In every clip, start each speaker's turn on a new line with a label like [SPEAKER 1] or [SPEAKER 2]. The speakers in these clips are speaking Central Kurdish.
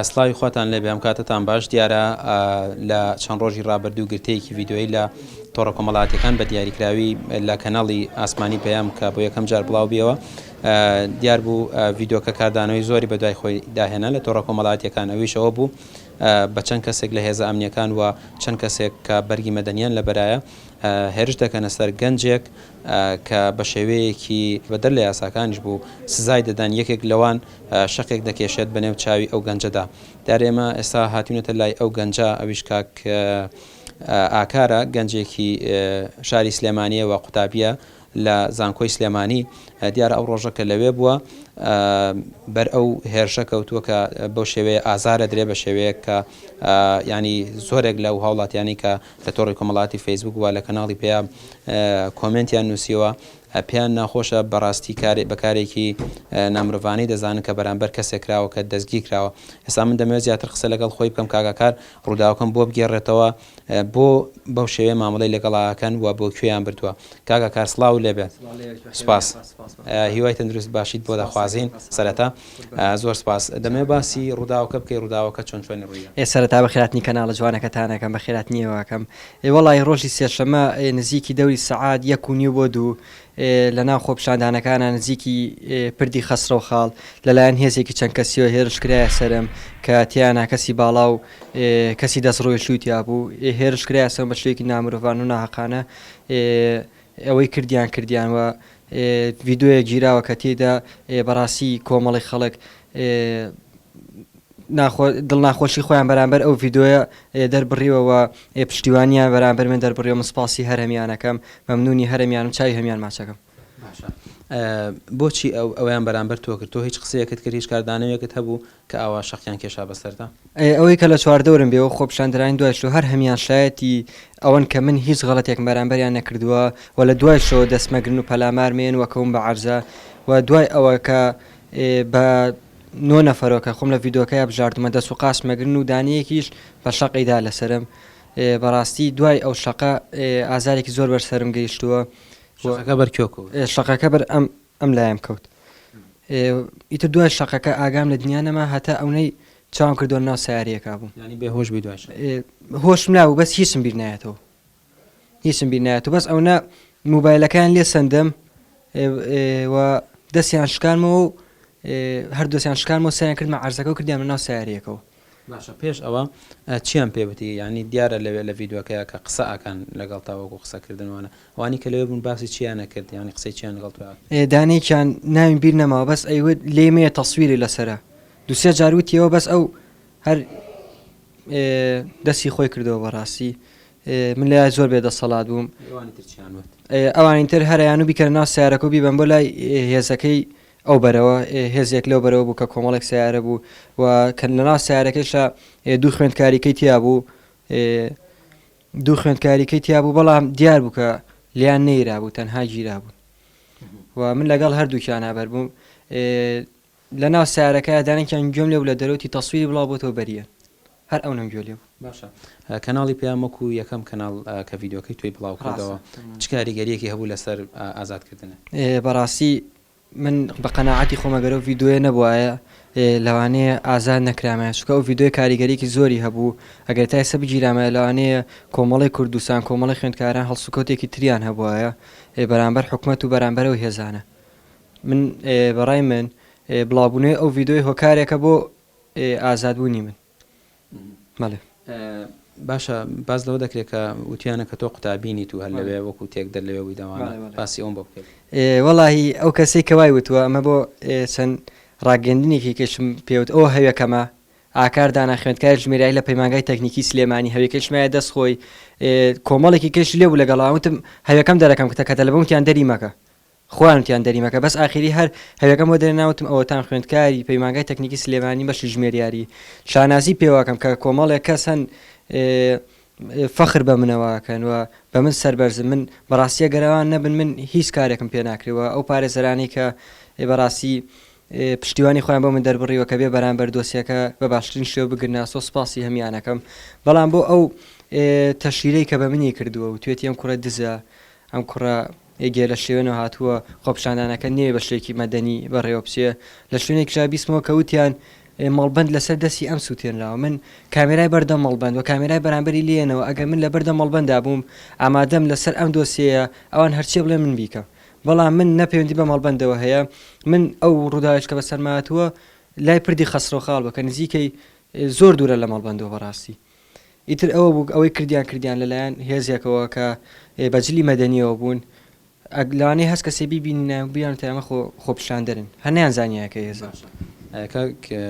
[SPEAKER 1] سڵاوی خواتان لێبێ ئەم کاتەتان باش دیارە لە چەند ڕۆژی ڕابردوو گرتەیەکی ڤیدیۆیی لە تۆڕە کۆمەڵاتیەکان بە دیاریکراوی لە کەناڵی ئاسمانی پەیام کە بۆ یەکەم جار بڵاو بیەوە دیار بوو ڤیدۆکە کاردانەوەی زۆری بە دوای خۆی داهێنا لە تۆڕە کۆمەڵاتیەکان ئەویشەوە بوو بە چەند کەسێک لە هێزە ئەمنیەکان و چەند کەسێک کە بەرگی مەدەنیان لە بەرایە هێرش دەکەنە سەر گەنجێک کە بە شێوەیەکی بەدەر لە یاساکانیش بوو سزای دەدەن، یەکێک لەوان شەقێک دەکێشێت بە نێو چاوی ئەو گەنجەدا. دیارە ئێمە ئێستا هاتووینەتە لای ئەو گەنجە، ئەویش کاک ئاکارە، گەنجێکی شاری سلێمانییە و قوتابییە لە زانکۆی سلێمانی. دیارە ئەو ڕۆژە کە لەوێ بووە، بەر ئەو هێرشە کەوتووە کە بەو شێوەیە ئازار ئەدرێ، بە شێوەیەک کە یانی زۆرێک لەو هاوڵاتییانەی کە لە تۆڕی کۆمەڵایەتی فەیسبووک و لە کەناڵی پەیام کۆمێنتیان نووسیوە، پێیان ناخۆشە، بەڕاستی کارێ بە کارێکی نامرۆڤانەی دەزانن کە بەرامبەر کەسێک کراوە کە دەستگیرکراوە. ئێستا من دەمەوێت زیاتر قسە لەگەڵ خۆی بکەم کاک ئاکار ڕووداوەکەم بۆ بگێڕێتەوە، بۆ بەو شێوەیە مامەڵەی لەگەڵ ئاکەن و بۆ کوێیان بردووە. کاک ئاکار سڵاوو لێبێ. سپاس. هیوای تەندروست باشیت بۆ دەخوازین. سەرەتا. زۆر سپاس. دەمەوێت باسی ڕووداوەکە بکەی ڕووداوەکە چۆن چۆنی ڕوویدا. ئێ سەرەتا بەخێراتنی کەناڵە
[SPEAKER 2] جوانەکەتانەکەم بەخێراتنیەوەکەم ئێ وەڵای ڕۆژی سێشەمە ئێ نزیکی دەوری سەعات یەک و نیو بۆ دوو ئێ لە ناو خۆپیشاندانەکانە نزیکی ئێ پردی خەسرەو خاڵ لە لایەن هێزێکی چەند کەسیەوە هێرش کرایە سەرم کە تیانا کەسی باڵا و ئێ کەسی دەست ڕوێشیو تیابوو ئێ هێرش کرایە سەرم بە شێوەیەکی نامرۆڤانە و ناهەقانە ئێ ئەوەی کردیان کردیان و ڤیدۆیەک گیراوە کە تێیدا بەڕاستی کۆمەڵی خەڵک دڵناخۆشی خۆیان بەرامبەر ئەو ڤیدۆیە دەربڕیوەوە پشتیوانیان بەرامبەر من دەربڕێ من سپاسی هەرمیانەکەم مەمنونی هەرمیانم چای هەمیان ماچەکەم
[SPEAKER 1] بۆچی ئەو ئەویان بەرامبەر تۆ کرد تۆ هیچ قسەیەکت کرد هیچ کاردانەوەیەکت هەبوو کە ئاوا شەقیان کێشا بەسەردا. ئەی ئەوەی کە لە
[SPEAKER 2] چواردەورم بێ و خۆپیشاندەرانی دوای شلۆ هەر هەمیان شایەتی ئەوەن کە من هیچ غەڵەتێکم بەرامبەریان نەکردووە و لە دوای شلۆ دەست مەگرن و پەلامار مەیەن و کەون بە عەرزا و دوای ئەوە کە بە نۆ نەفەرەوە کە خۆم لە ڤیدۆکەیا بژاردومە دەست و قاچ مەگرن و دانەیەکیش بە شەقی دا لەسەرم بەڕاستی دوای ئەو شەقە ئازارێکی زۆر بەر سەرم گەیشتووە و شەقەکە بەر کێو کەوت؟ شەقەکە بەر ئەم ئەم لایم کەوت ئیتر دوای شەقەکە ئاگام لە دنیا نەما هەتا ئەونەی چاوم کردوە ناو سیارەکە بووم یعنی بێ هۆش بووی دوای
[SPEAKER 1] شەقە هۆشم نابوو
[SPEAKER 2] بەس هیچم بیر نایەتەوە هیچم بیر نایەتەوە بەس ئەونە موبایلەکەیان لێ سەندم و دەستیان شکانمەوە و هەردووسیان شکانمەوە سەیان کردمە عەرزەکە و کردیان ناو سیارەکەەوە باشە پێش
[SPEAKER 1] ئەوە چیان پێ وتی یانی دیارە لەوێ لە ڤیدۆکەیا کە قسە ئەکەن لەگەڵ تا وەکو قسە کردن وانە ئەوانی کە لەوێ بوون باسی چیان نەکرد یانی قسەی چیان لەگەڵ تۆ ئەکرد ئێ دانێکیان
[SPEAKER 2] ناویم بیر نەماوە بەس ئەیوت لێ مەیە تەسویری لەسەرە دوو سێ جار وتیەوە بەس ئەو هەر ئێ، دەستی خۆی کردەوە بەڕاستی ئێ، من لای زۆر بێ دەسەڵات بووم ئەوانی تر چیان وت ئێ، ئەوانی تر هەریان و بیکەنە ناو سیارەکە و بیبەن بۆ لای ئێ، هێزەکەی ئەو بەرەوە ئێ هێزێک لەو بەرەوە بوو کە کۆمەڵێک سەیارە بوو و کە لەناو سەیارەکەیشا ئێ دوو خوێندکاریکەی تیا بوو ئێ دوو خوێندکاریکەی تیا بوو بەڵام دیار بوو کە لیان نەیرا بوو تەنها گیرا بوون و من لەگەڵ هەردووکیان هابەر بووم ئێ لە ناو سارەکە دانێکیان گوێم لێ بوو لە دەرەوتی تەسویری بڵاو بۆتەوە بەریە هەر ئەو نەم گوێ لێ بوو. باشە
[SPEAKER 1] کەناڵی پەیام وەکو یەکەم کەناڵ کە ڤیدیۆکەی تۆی بڵاو کردەوە چ کاریگەریەکی هەبوو لەسەر ئازاد کردنت؟ بەڕاستی
[SPEAKER 2] من بە قەناعەتی خۆم ئەگەر ئەو ڤیدیۆیە نەبوایە لەوانەیە ئازاد نەکرامایە چونکە ئەو ڤیدیۆیە کاریگەریەکی زۆری هەبوو ئەگەر تا ئێستا بگیرامایە لەوانەیە کۆمەڵی کوردستان کۆمەڵی خوێندکاران هەڵسوکەوتێکی تریان هەبوایە بەرامبەر حکومەت و بەرامبەر ئەو هێزانە من بەڕای من بڵاوبونەوەی ئەو ڤیدیۆیە هۆکارێکە بۆ ئێ ئازاد بوونی من بەڵێ.
[SPEAKER 1] باشە باس لەوە دەکرێت کە وتیانە کە تۆ قوتابینی تو هەر لەوێ وەکو تێک دەر لەوێ بووی داوانە باسی ئەوم بۆ بکەیت وەڵی ئەو
[SPEAKER 2] کەسەی کەوای وتووە ئەمە بۆ چەند ڕاگەندنێکی کەشم پێوت ئەو هەوێکەمە ئاکار دانا خوێندکار ژمێرای لە پەیمانگای تەکنیکی سلێمانی هەوێکەشمایە دەست خۆی کۆمەڵێکی کەش لێ بوو لەگەڵاوتم هەوێکەم دەرەکەم کتە کە تەلبوونکیان دەری مەکە خۆیان کیان دەریمەکە بەس ئاخیری هەر هەوێکەم بۆ دەرێنا وتم ئەوەتان خوێندکاری پەیمانگای تەکنیکی سلێمانی بەشی ژمێریاری شانازی پێواکەم کە کۆمەڵێک کەس هەن فەخر بە منەوە ئەکەن و بە من سەربەرزن من بەڕاستی ئەگەر ئەوان نەبن من هیچ کارێکم پێ ناکرێ و ئەو پارێزەرانەی کە بەڕاستی پشتیوانی خۆیان بۆ من دەربڕیوە کە بێ بەرامبەر دۆسیەکە بە باشترین شێوە بگرناسۆ سپاسی هەمیانەکەم بەڵام بۆ ئەو تەشیرەی کە بە منی کردووە و توێتی ئەم کوڕە دزە ئەم کوڕە ئێگێ لە شێوێنەوە هاتووە، خۆپیشاندانەکە نەیە بە شێکی مەدەنی بەڕێوە بچێ، لە شوێنێکیشا بیستمەوە کە وتیان مەڵبەند لە سەر دەستی ئەم سووتێنراوە، من کامێرای بەر دەم مەڵبەند و کامێرای بەرامبەری لێیەنەوە، ئەگەر من لە بەر دەم مەڵبەندا بووم ئامادەم لە سەر ئەم دۆسیەیە ئەوان هەرچیە بڵێن من بیکە بەڵام من نە پەیوەندی بە مەڵبەندەوە هەیە من ئەو ڕووداویش کە بەسەرما هاتووە لای پردی خەسرەوخاڵ بووە کە نزیکەی زۆر دوورە لە مەڵبەندەوە بەڕاستی ئیتر ئەوە بوو ئەوەی کردیان کردیان لەلایەن هێزێکەوە کە بە جلی مەدەنیەوە بوون ئەگ لەوانەیە هەست کەسێ بیبینینایان و بیان تەیامە خۆ خۆپیشاندەرن هەر نیان زانیایە کە هێزە باشە ئە کاک ئە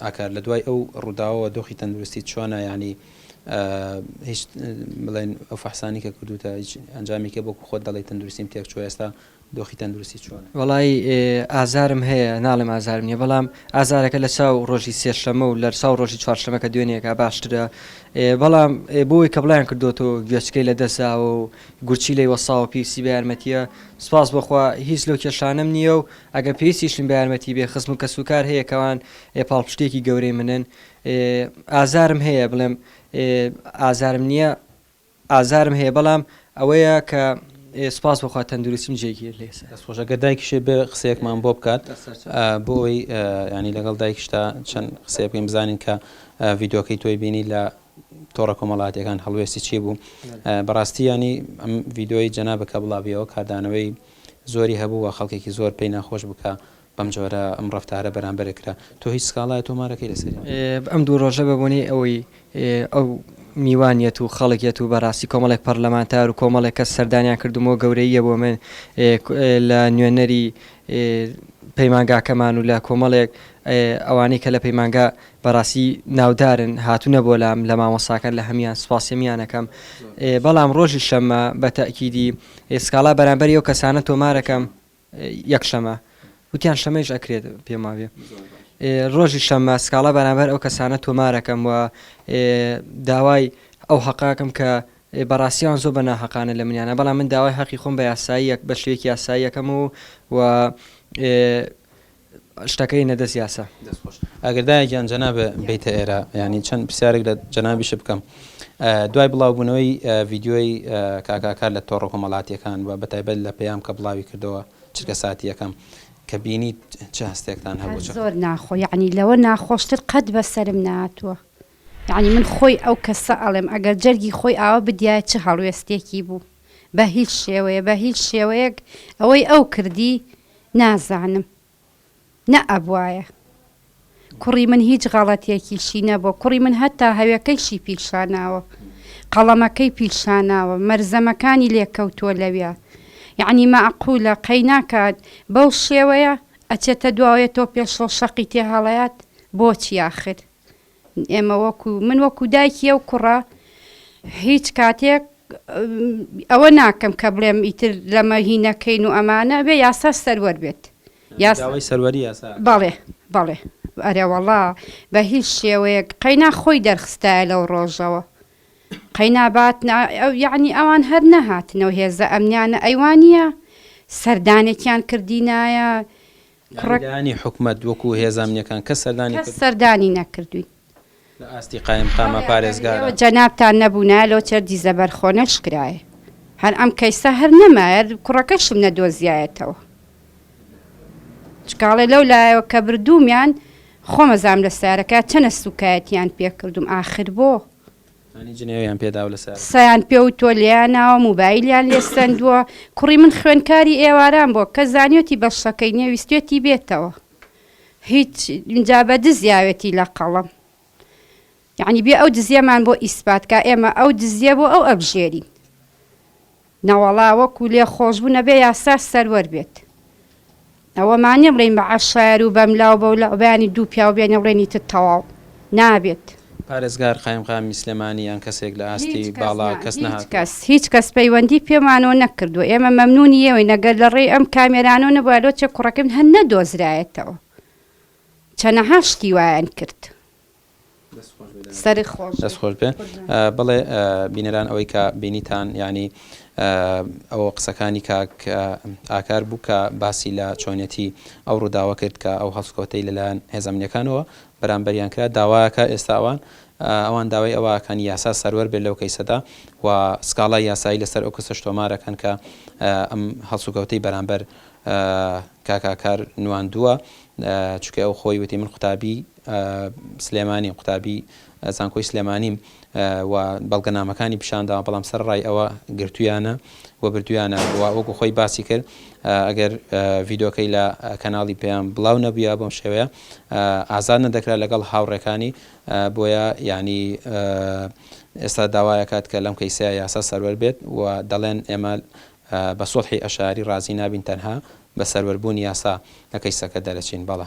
[SPEAKER 1] ئاکار لە دوای ئەو ڕووداوەوە دۆخی تەندروستیت چۆنە یانی ئە هیچ بڵێن ئەو فەحسانی کە کردووتە هیچ ئەنجامێکی بۆ خۆت دەڵێی تەندروستیم تێک چووە ئێستا دۆخی تەندروستی چۆنە؟ وەڵایی
[SPEAKER 2] ئازارم هەیە ناڵێم ئازارم نیە بەڵام ئازارەکە لەچاو ڕۆژی سێ شەمە و لەرچاو ڕۆژی چوار شەمە کە دوێنێ کا باشترە بەڵام بۆوەی کە بڵاویان کردۆتەوە گوێچکەی لە دەست زاوە و گورچیلەی وەساوە پێویستی بە یارمەتیە سوپاس بۆ خوا هیچ لەو کێشانەم نیە و ئەگەر پێویستیشم بە یارمەتی بێ خزم و کەس و کار هەیە کەوان پاڵپشتیەکی گەورەی منن ئازارم هەیە بڵێم ئازارم نیە ئازارم هەیە بەڵام ئەوەیە کە سوپاس بۆ خوا تەندروستیم جێگیر لێسە. دەست خۆش ئەگەر دایکیشێ بێ
[SPEAKER 1] قسەیەکمان بۆ بکات بۆ ئەوەی یانی لەگەڵ دایکیشتا چەند قسەیە بکەین بزانین کە ڤیدۆکەی تۆی بینی لە تۆڕە کۆمەڵاتیەکان هەڵوێستی چی بوو بەڕاستی ینی ئەم ڤیدۆی جەنابەکە بڵاویەوە کاردانەوەی زۆری هەبوو و خەڵکێکی زۆر پێی ناخۆش بکە بەم جۆرە ئەم ڕەفتارە بەرامبەرت کرا. تۆ هیچ سکاڵایەک تۆمار ئەکەی لەسەری؟ ئەم دوو ڕۆژە
[SPEAKER 2] بە بۆنەی ئەوەی ئەو میوان یەت و خەڵک یەت و بەڕاستی کۆمەڵێک پەڕلەمانتار و کۆمەڵێک کەس سەردانیان کردووم و گەورەییە بۆ من لە نوێنەری پەیمانگاکەمان و لە کۆمەڵێک ئەوانەی کە لە پەیمانگا بەڕاستی ناودارن هاتوونە بۆ لام لە مامۆستاکان لە هەمیان سوپاسی هەمیان ئەکەم بەڵام ڕۆژی شەممە بە تەئکیدی سکاڵا بەرامبەری ئەو کەسانە تۆمار ئەکەم. یەک شەمە وتیان شەمەیش ئەکرێت پێم وابێ ڕۆژی شەمە سکاڵا بەرامبەر ئەو کەسانە تۆمارەکەم و داوای ئەو حەقاکەم کە بەڕاستیان زۆر بە ناحقانە لە منیانە بەڵام من داوای حەقی خۆم بە یاساییەک بە شوێکی یاساییەکەم و و شتەکە ینە دەست یاسا. دەست خۆش ئەگەر دایە گیان
[SPEAKER 1] جەنابە بیتە ئێرە یانی چەند پرسیارێک لە جەنابیشت بکەم دوای بڵاوبوونەوەی ڤیدیۆی کاک ئاکار لە تۆڕە کۆمەڵاتییەکان و بەتایبەت لە پەیام کە بڵاوی کردەوە چرکە ساتییەکەم کە بینیت چ هەستێکتان هەبوو چ زۆر ناخۆ یانی
[SPEAKER 3] لەوە ناخۆشتر قەت بە سەرم نەهاتووە یانی من خۆی ئەو کەسە ئەڵێم ئەگەر جەرگی خۆی ئاوا بدیایە چ هەڵوێستێکی بوو بە هیچ شێوەیە بە هیچ شێوەیەک ئەوەی ئەو کردی نازانم نە ئەبوایە کوڕی من هیچ غەڵەتێکیشی نەبووە کوڕی من هەتا هەوێکەیشی پیشاناوە قەڵەمەکەی پیشاناوە مەرزەمەکانی لێ کەوتووە لەویا یەعنی مەعقولە قەیناکات بەو شێوەیە ئەچێتە دواوەێتۆ پێشەوە شەقی تێ هەڵەیات بۆچی ئاخر ئێمە وەکو من وەکو دایکی ئەو کوڕە هیچ کاتێک ئەوە ناکەم کە بڵێم ئیتر لەمە هی نەکەین و ئەمانە بێ یاسا سەروەر بێت
[SPEAKER 1] بەڵێ
[SPEAKER 3] بەڵێ ئەرێوەڵا بە هیچ شێوەیەک قەینا خۆی دەرخستایە لەو ڕۆژەوە قەینابات یعنی ئەوان هەر نەهاتنەوە هێزە ئەمنیانە ئەیوانە سەردانێکیان کردینایە یانی
[SPEAKER 1] لایەنی حکومەت وەکو هێزە ئەمنیەکان کەس سەردانی کردووە؟ کەس سەردانی
[SPEAKER 3] نەکردووین. لە ئاستی
[SPEAKER 1] قایمقامە پارێزگارە؟ ئێوە جەنابتان نەبوونایە
[SPEAKER 3] لەو چەر دیزە بەرخۆ نەشکرایە هەر ئەم کەیسە هەر نەمایە کوڕەکەشم نەدۆزیایەتەوە چونکە ئەڵێ لەو لایەوە کە بردوومیان خۆم ئەزانم لە سارەکە چەنە سوکایەتیان پێ کردووم ئاخر بۆ؟ انی جنێویان
[SPEAKER 1] پێداو لەسەر. سیان پێوتوە
[SPEAKER 3] لێیان ناوە موبایلیان لێ سەندوە کوڕی من خوێنکاری ئێواران بوە کەس زانیوەتی بەشەکەی نیە ویستوێتی بێتەوە هیچ ئینجا بە دز یاوێتی لە قەڵەم یانی بێ ئەو دزیەمان بۆ ئیسپات کا ئێمە ئەو دزیە بۆ ئەو ئەبژێرین نەوەڵا وەکو لێ خۆشبوو نەبێ یاسا سەروەر بێت ئەوە مانیە بڵێین بە عەشایەر و بەملاو بەولاو بەیانی دوو پیاو بێنێ بڵێن ئیتر تەواو نابێت. پارێزگار
[SPEAKER 1] قایمقامی سلێمانی یان کەسێک لە ئاستی باڵا کەس نەهاتووە؟ هیچ کەس هیچ کەس پەیوەندی
[SPEAKER 3] پێمانەوە نەکردووە ئێمە مەمنونی ئێوەین ئەگەر لە ڕێی ئەم کامێرانەوە نەبوایە لۆچێ کوڕەکەی من هەر نەدۆزرایەتەوە چەنەها شتی وایان کرد. دەست خۆش بێ
[SPEAKER 1] بڵێ بینەران ئەوەی کە بینیتان ینی ئەوە قسەکانی کاک ئاکار بوو کە باسی لە چۆنیەتی ئەو ڕووداوە کرد کە ئەو هەڵسکۆتەی لەلایەن هێزمنیەکانەوە بەرامبەریان کرا داواکە ئێستاوان ئەوان داوای ئەوەکان یاسا سەروەر بێت لەو کەیسەدا و سکاڵای یاسایی لەسەر ئەو کەسە شتۆمارەکەن کە ئەم هەڵسوکەوتەی بەرامبەر کاکاکار نواندووە چکە ئەو خۆی وتی من قوتابی سلێمانی، قوتابی زانکۆی سلێمانیم و بەڵگەنامەکانی پیشانداوە بەڵام سەرڕای ئەوە گرتویانە و بردویانە و وەکو خۆی باسی کرد ئەگەر ڤیدۆکەی لە کەناڵی پێیان بڵاو نەبووە بەم شێوەیە ئازاد نەدەکرا لەگەڵ هاوڕێکانی بۆیە یعنی ئێستا داوایەکات کە لەم کەیسەیە یاسا سەروەر بێت و دەڵێن ئێمە بە سوڵحی ئەشاری ڕازی نابین تەنها بە سەروەر بوونی یاسا لە کەیسەکە دەرەچین بەڵێ.